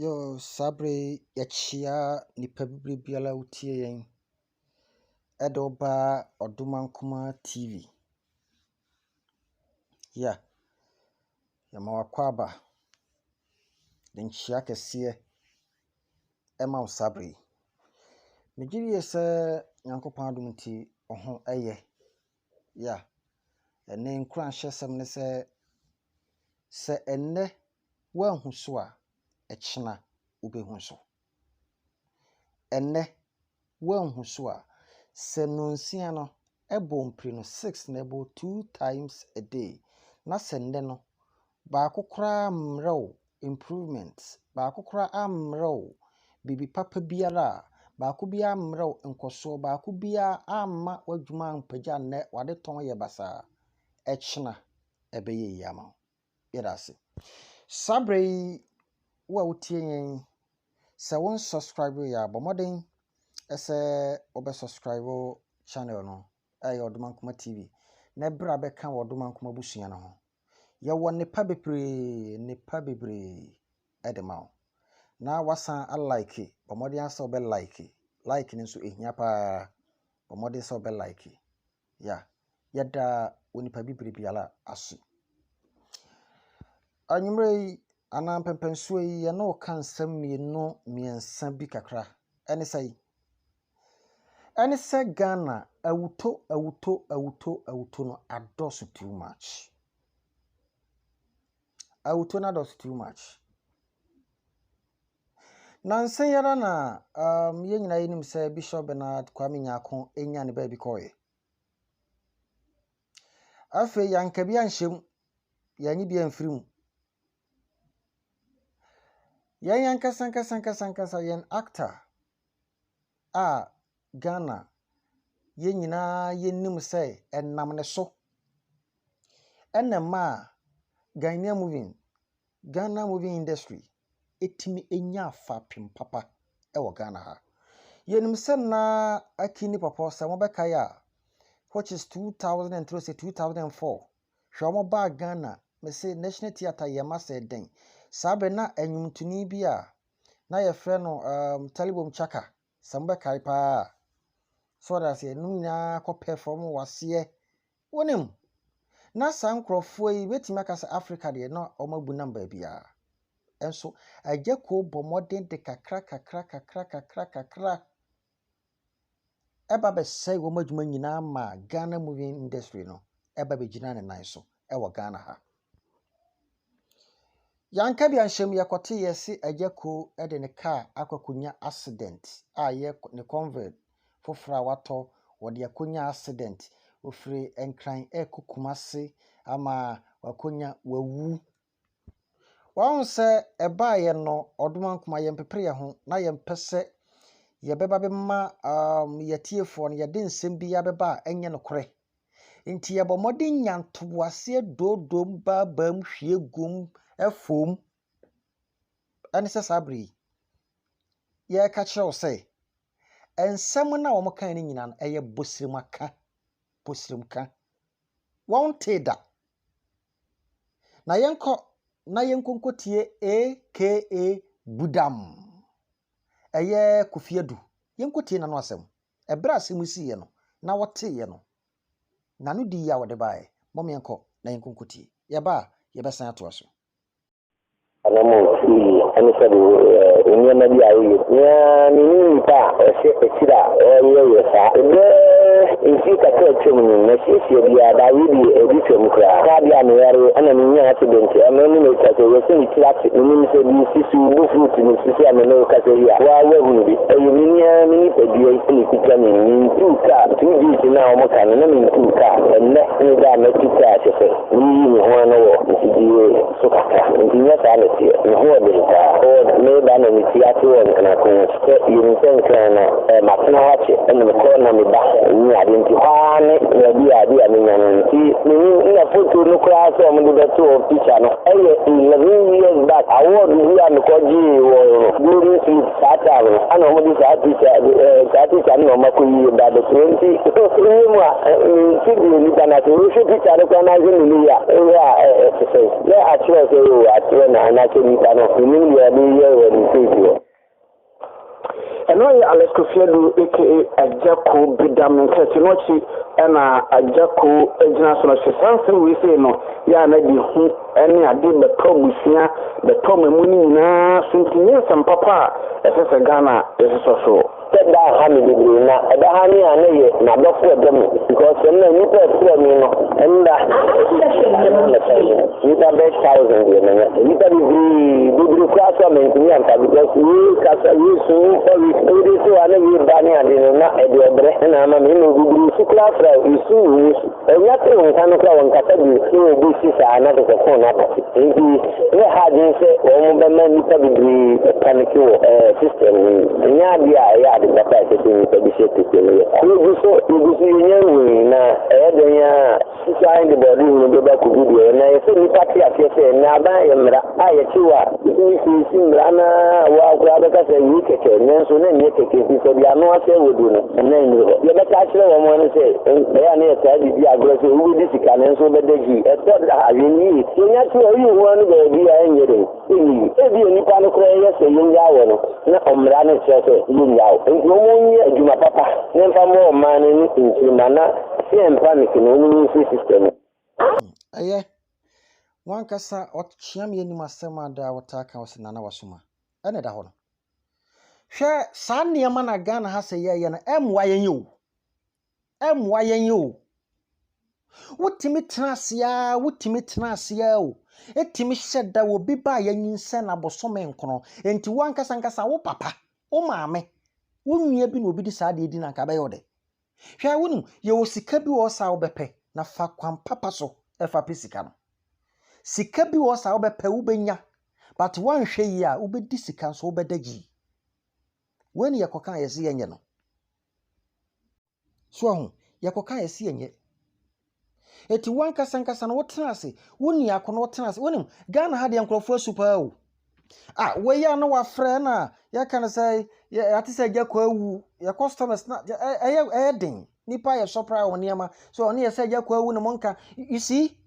Yoo, saa berɛ yi yɛkyia nnipa bi berɛ biara a wotie yɛn de wo ba Ɔdomankoma TV. Yeah, yɛma wo akwaaba de nkyia kɛseɛ ma wo saa berɛ yi. Megye die sɛ Nyankopɔn adom nti wo ho yɛ. Yeah. Ɛnne nkuranhyɛsɛm ne sɛ, Sɛ ɛnnɛ woanhu so a, ɛkyena wobɛhu so. Ɛnnɛ woanhu so a, sɛ nnɔnsia no ɛbɔ mpire no six na ɛbɔ two times a day na sɛ nnɛ no Baako koraa ammrɛ wo improvement, baako koraa ammrɛ wo biribi papa biara, baako biara ammrɛ wo nkɔsoɔ, baako biara amma w'adwuma ampagya nnɛ, w'ade tɔn yɛ basaa. Ɛkyena ɛbɛyɛ yie ama wo. Yɛda ase. Saa berɛ yi, wo a wotie yɛn, sɛ wo nsubscribe yɛ a, bɔ mmɔden sɛ wobɛ subscribe channel no, ɛyɛ Ɔdomankoma TV, na bra bɛka wɔ Ɔdomankoma abusua no ho. Yɛwɔ nnepa bebree, nnepa bebree de ma wo. Na woasan alike, bɔ mmɔden ara sɛ wobɛ like. Like no nso ɛhia pa ara, bɔ mmɔden sɛ wobɛ like. Yeah, yɛda onipa bibire biara ase. Anwummerɛ yi anaa mpɛmpɛnsoɔ yi, yɛne wo ka nsɛm mmienu mmiɛnsa bi kakra. Ɛne sɛn? ɛne sɛ Ghana awuto awuto awuto awuto no adɔɔso too much. Awuto no adɔɔso too much. Nansa yi ara na um, yɛn nyinaa yɛnim sɛ Bishop Bernard Kwame Nyako nya ne baabi kɔɔeɛ. Afei yɛanka bi anhyɛ mu, yɛanye bi amfiri mu. Yɛn ankasa ankasa ankasa ankasa yɛn actor a Ghana yɛn nyinaa yɛnim sɛ ɛnam ne so na ɛmaa Ghanaian moving, Ghana moving industry tumi nyaa fapem papa wɔ Ghana ha. Yɛnim sɛ na Akin ne Pɔpɔ, sɛ mobɛkae a, which is two thousand and three sɛ two thousand and four, hwɛ wɔbaa Ghana, mese National Theatre yɛn mma sɛ dɛn. Saa berɛ na nnwomtoni bi a na yɛfrɛ no um, Talibom Chaka, sɛ mobɛkae paa a. So ɔda aseɛ, ɛnom nyinaa kɔpɛ fam waseɛ. Wonim, na saa nkurɔfoɔ yi bɛtumi aka sɛ Afrika deɛ na wɔn abu nam baabiara. Nso agya kuo bɔ mmɔden de kakra kakra kakra kakra kakra ɛba bɛsɛe wɔn adwuma nyinaa ma Ghana movie industry no ɛba bɛgyina ne nan so ɛwɔ Ghana ha. Yɛanka bi anhyɛm yɛkɔte yɛse agya ko de ne kaa akɔkɔnya accident a yɛ ne convert foforɔ a watɔ wɔde akɔnya accident ofiri nkran ɛkɔ kumase ama wakɔnya wawu Wahu sɛ ɛbaeɛ no, ɔdoma nkuma, yɛmpepere yɛn ho na yɛmpɛ sɛ yɛbɛba bɛma um, yɛtiefoɔ no yɛde nsɛm biara bɛba a ɛnyɛ nokorɛ. Nti yɛbɔ mmɔden nya ntoboaseɛ doodom baabaam hwie gum ɛfom ɛne sɛ saa bere yi yɛreka kyerɛ wo sɛ nsɛm no a wɔn kan no nyinaa no ɛyɛ bosirimaka bosirimka wɔn tee da Na yɛnkɔ na yɛnkɔ nkɔtie AKA Budam. Ɛyɛ Kofi Adu. Yɛnkɔtie n'ano asɛm. Ɛberɛ a asɛm yi siiɛ no, na wɔteeɛ no, n'ano di yie a wɔde baeɛ. Mom yɛnkɔ na yɛnkɔ nkɔtie. Yɛba a, yɛbɛsan atoa so. Anammɔn tu yie ɛne sɛ de nneɛma bi a woyɛ bi. Na menim nnipa a ɛhyɛ akyiri a wɔyɛyɛ saa. Bɛɛ mfie kakra a atwam ni, masiesie biara daa wedeɛ ɛdi twam koraa. Kaa bi a meyareɛ ɛna menyaa accident ɛno ne me kasa yi ɛsɛ metiri ase. Menim sɛ deɛ ɛsisi wo bo fruit no sisi a me ne wo kasa yi a woaa woahunu bi. Ɛyɛ m'ani ara me nipadua yi na ɛkuta me. Mentuu kaa two days no a wɔka no na mentuu kaa. Ɛnnɛ ne da a matu kaa kyɛsɛ. Meyii me ho ano wɔ mfidie so kakra, enti nyɛ saa na ɛteɛ. Me ho yɛ den paa. Ford, Mereba na me ti ate wɔ Nkran ko no akyi. Sɛ yɛnim sɛ Nkran no, ɛɛ, matena hɔ akyɛ, ɛna mekɔ na meba, ɛnyɛ adeɛ nti hɔ ara ne baabi a bi a menya no. Nti menim, nna foto no koraa sɛ wɔde bɛto hɔ, picture no, ɛyɛ eleven years back, award bi a mekɔgyee wɔ Golden Slip. Saa da no, ana wɔde saa tikya eh, saa tikya no na wɔakɔ yie ba abɛkyerɛ nti woyɛ mu a nti deɛ nipa no ase wohwɛ tikya no koraa no ahwɛ ne ne yɛ a ɛyɛ a ɛte sɛ na akyerɛ sɛ o akyerɛ no anakyɛ nipa no menim deɛ ɔde yɛ wɔ ne sɛdeɛ ɛno yɛ alɛskofiadu aka agyako bidam nkɛse no akyi ɛna agyako agyina so no hyɛ saa nsɛm wei sei no yɛ a na de hu ne ade mmɛtɔ mmusua, bɛtɔ mmamu no nyinaa so nti nyɛ nsɛm papa a ɛsɛ sɛ Ghana sosɔ so. Sɛ da ha me bebree na ɛda ha me a na ɛyɛ madɔfo ɛdɔ me because sɛ na nnipa ɛfrɛ me no ɛnda nnipa bɛ thousand deɛ na nya nnipa bebree bebree koraa so a mantumi amfa because yee kasa yee su ɔwi ɔwode so a na yee ba ne ade no na ɛde ɔbrɛ ɛna ama me na obebree su koraa fra esu wɔ su Onya tee nka no koraa a, ɔnkasa bio sɛ obi resi saa na kyerɛ sɛ ɔkɔɔ n'abati. Enti yɛ ha adwene sɛ wɔbɛma nnipa bebree panike wɔ system no mu. Ɛnyɛ ade a ɛyɛ ade papa a ɛsɛ sɛ nnipa bi hyɛ kɛse no yɛ. Yegu so, yegu so, yɛnya nhu yi, na ɛyɛ dɛn ara a, susuane de bɔɔdehunu bɛba akodu deɛ ɛyɛ. Na ɛsɛ sɛ nnipa te aseɛ sɛ nnaadaa yɛ mmara. a yɛte hɔ a, yɛtumi siesie mmara no ara a woa koraa bɛka sɛ wei kɛkɛ, nanso na ɛnyɛ kɛkɛ nti sɛ deɛ ano asɛ wɔ duro no, ɛna nnuru hɔ. Yɛbɛka akyerɛ wɔn ara no sɛ, ɛyɛ a na yɛtaa de di agorɔ sɛ wobɛdi sika nanso wobɛda gyi. Ɛtɔ da a, yɛn ni ye. Yɛnya sɛ yɛyi ho ano baabi a, ɛnyɛ dɛn? Ɛnyɛ yi. Ebia nnipa no koraa yɛ sɛ yɛnnyaa wɔn, na mmara no kyerɛ sɛ yɛnnyaa wo. Enti wɔnyɛ adwuma papa na ɛmfa mmɔ wɔn mmaa no ne nkyirimma na sɛ ɛmpa no kene, wɔnsi system. Ɛyɛ W'ankasa ɔkyea me anim asɛm a daa wotaa ka sɛ Nana Wasom a, ɛna ɛda hɔ no. Hwɛ saa nneɛma na Ghana ha sɛ yɛyɛ no, ɛmmoa yɛn o. Ɛmmoa yɛn o. Wotumi tena ase ara, wotumi tena ase ara o. Etumi hyɛ da wɔ bi ba a yɛanyinsɛn na bosome nkono. Enti w'ankasa ankasa wo papa, wo maame, wo nua bi na obi de saa deɛ di na anka ɛbɛyɛ wo dɛ. Hwɛ, wonim, yɛwɔ sika bi wɔ hɔ saa a wobɛpɛ, na fa kwan papa so fa pɛ sika no. Sika bi wɔ hɔ saa a wobɛpɛ, wobɛnya, but woanhwɛ yie a, wobɛdi sika nso wobɛda gyii. Wei ne yɛkɔkaa yɛse yɛnyɛ no. So ahu, yɛkɔkaa yɛse yɛnyɛ. Eti wo ankasa ankasa no wotena ase, wo nni ako no wotena ase. Wonim, Ghana ha deɛ nkurɔfoɔ asu paa o. A wei a na wafrɛ na yɛka no sɛ yɛate sɛ agya kɔ awu, yɛ customers na ɛyɛ ɛyɛ den. Nipa yɛ surprise wɔ nneɛma. So ɔne yɛ sɛ agya kɔ awu no mo nka. You see?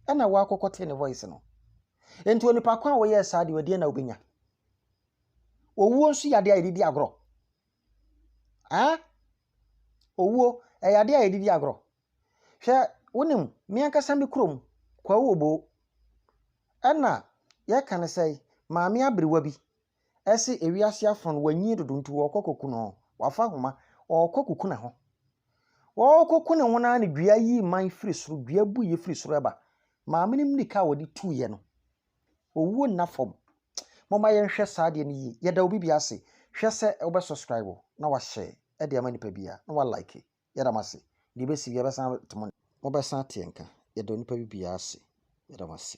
Ɛna wakɔkɔ te ne voice no. Enti onipa ko a wɔyɛɛ saa deɛ ɔdeɛ na wobɛnya. Owuo nso yɛ adeɛ a yɛde di agorɔ. Aa! Owuo, ɛyɛ adeɛ a yɛde di agorɔ. Hwɛ, wonim, me ankasa me kurom, Kwawu Oboo, ɛna yɛka no sɛ maame aberewa bi se ewiase afono no wanyin dodo nti wɔrekɔ akɔku no. Wafa ahoma, ɔrekɔ akɔku ne ho. Ɔrekɔku ne ho no ara na dua yi mman firi soro, dua buiɛ firi soro ba. Maame no mmirika a ɔde tuiɛ no, Owuo nna fam. Momma yɛnhwɛ saa adeɛ no yie. Yɛda obi biara ase. Hwɛ sɛ wobɛ subscribe na wahyɛ de ama nipa biara na wa like. Yɛda mo ase. Deɛ ɛbɛsi biara ɛbɛsan ate mo. Mobɛsan ate yɛn nka. Yɛda onipa biara ase. Yɛda mo ase.